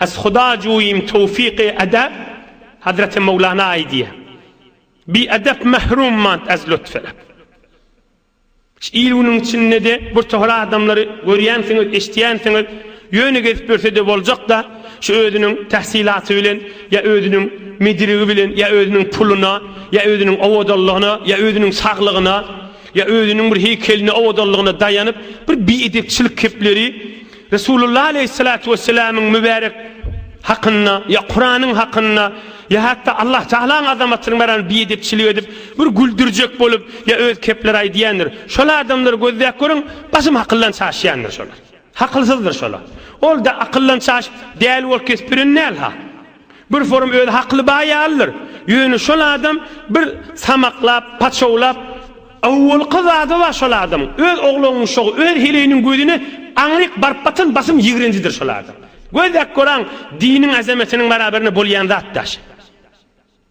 As Huda juim towfyk-e edäp, Hazreti Mowlana aýdýa, Bi edep mahrum mant az lutfelep. Şu il-günüň içinde-de bir tohar adamlary görýänsiňiz, eşidýänsiňiz, ýöne gezip ýörse-de boljak-da, şu özüniň tahsylaty bilen ýa özüniň medirigi bilen ýa özüniň puluna ýa özüniň owadanlygyna ýa özüniň saglygyna ýa özüniň bir heýkeline owadanlygyna daýanyp, bir bi edepçilik kepleri, Resulullah aleýhissalatu wesselamyň mübärek hakynda, ýa Kuranyň hakynda, ýa hatda Allah Tagalaň azamatyny baran biedepçilik edip, bir güldürjek bolup, ýa öz kepleri aýdýandyr. Şol adamlary gözläp görüň, basym hakyldan çaşýandyr şolar. Hakylsyzdyr şolar. Ol-da akyldan çaşyp, däli bolup kesip biren däl-ha. Bir forum özi hakly baý ýalydyr. Ýöne şol adam bir samaklap, paçawlap, awwalky zady bar şol adamyň, öz oglangyşagy, öz heleýiniň gözüne aňryk baryp batan basym ýigrenjidir şol adam. Gözläp göraň, diniň azametiniň barabarynda bolýan zat daşy.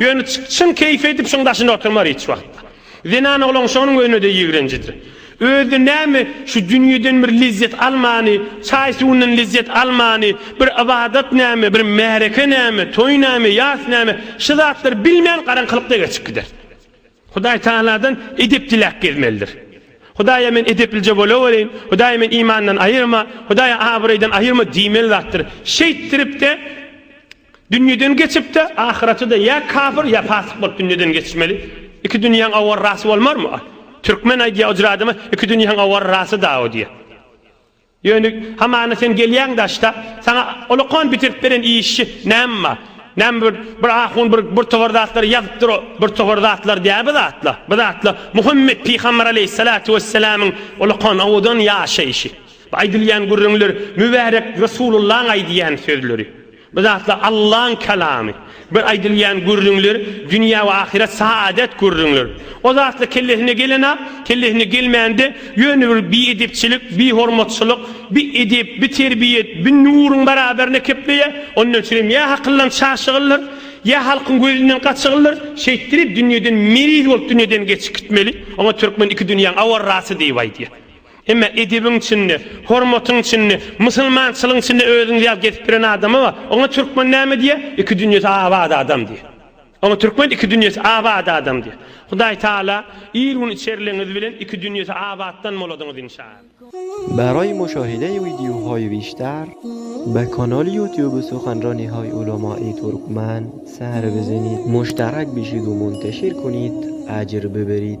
Ýöne çyn keýpi edip şuň daşynda oturmar hiç wagtda. Zenan oglan şonuň özüne-de ýigrenjidir. Özi näme şu dünýeden bir lezzet almany, çaý-suwundan lezzet almany, bir ybadat näme, bir märeke näme, toý näme, ýas näme, şu zatlary bilmän garaňkylykda geçip gider. Hudaý Tagaladan edep diläp gezmelidir. Hudaýa men edeplije bolawereýin, Hudaý men imandan aýyrma, Hudaý abraýdan aýyrma diýmeli zatdyr. Şeýtdirip-de, Dünýeden geçip-de, ahyrete-de ýa kafir, ýa pasyk bolup dünýeden geçmeli. Iki dünýäň awarrasy bolmarmy? Türkmen aýdýar, Ojur adama iki dünýäň awarrasy dawa diýýär. Ýöne hamana sen gelýäň daşda, saňa olakan bitirdip beren işçi näme bar? Näme bir, bir ahun bir, bir topar zatlary ýazypdyr, o bir topar zatlar däl bu zatlar. Bu zatlar Muhammet pygamber aleýhissalatu wessalamyň olakan owadan ýaşaýşy. Bu aýdylýan gürrüňler Mübärek Resulullaň aýdýan sözleri. Bu zatlar Allaň kalamy. Bir aýdylýan gürrüňler, dünýä we ahyret saadet gürrüňler. O zatlar kellesine gelen-ak, kellesine gelmände ýöne bir biedepçilik, bihormatçylyk, bi edep, bi terbiýet, bi nuruň baraberine kepleýär. Ondan üçinem ýa hakyldan çaşygyldyr, ýa halkyň gözünden gaçygyldyr, şeýtdirip dünýeden meriz bolup dünýeden geçip gitmeli. Oňa türkmen iki dünýäň awarrasy diýip aýdýar. Emma edebiň içinde, hormatyň içinde, musulmançylygyň içinde özüňizi ýaly gezip ýören adama bar. Oňa türkmen näme diýýär? Iki dünýesi abat adam diýýär. Oňa türkmen iki dünýesi abat adam diýýär. Hudaý Taala il gün içerligiňiz bilen iki dünýesi abatdan boladyňyz inşaAllah. Baraý muşahide wideo hoý wiçtar be kanal ýutuby suhanro nihaý ulama i turkman sary bizini muştarak bişidu munteşir kunit ajr bibirit.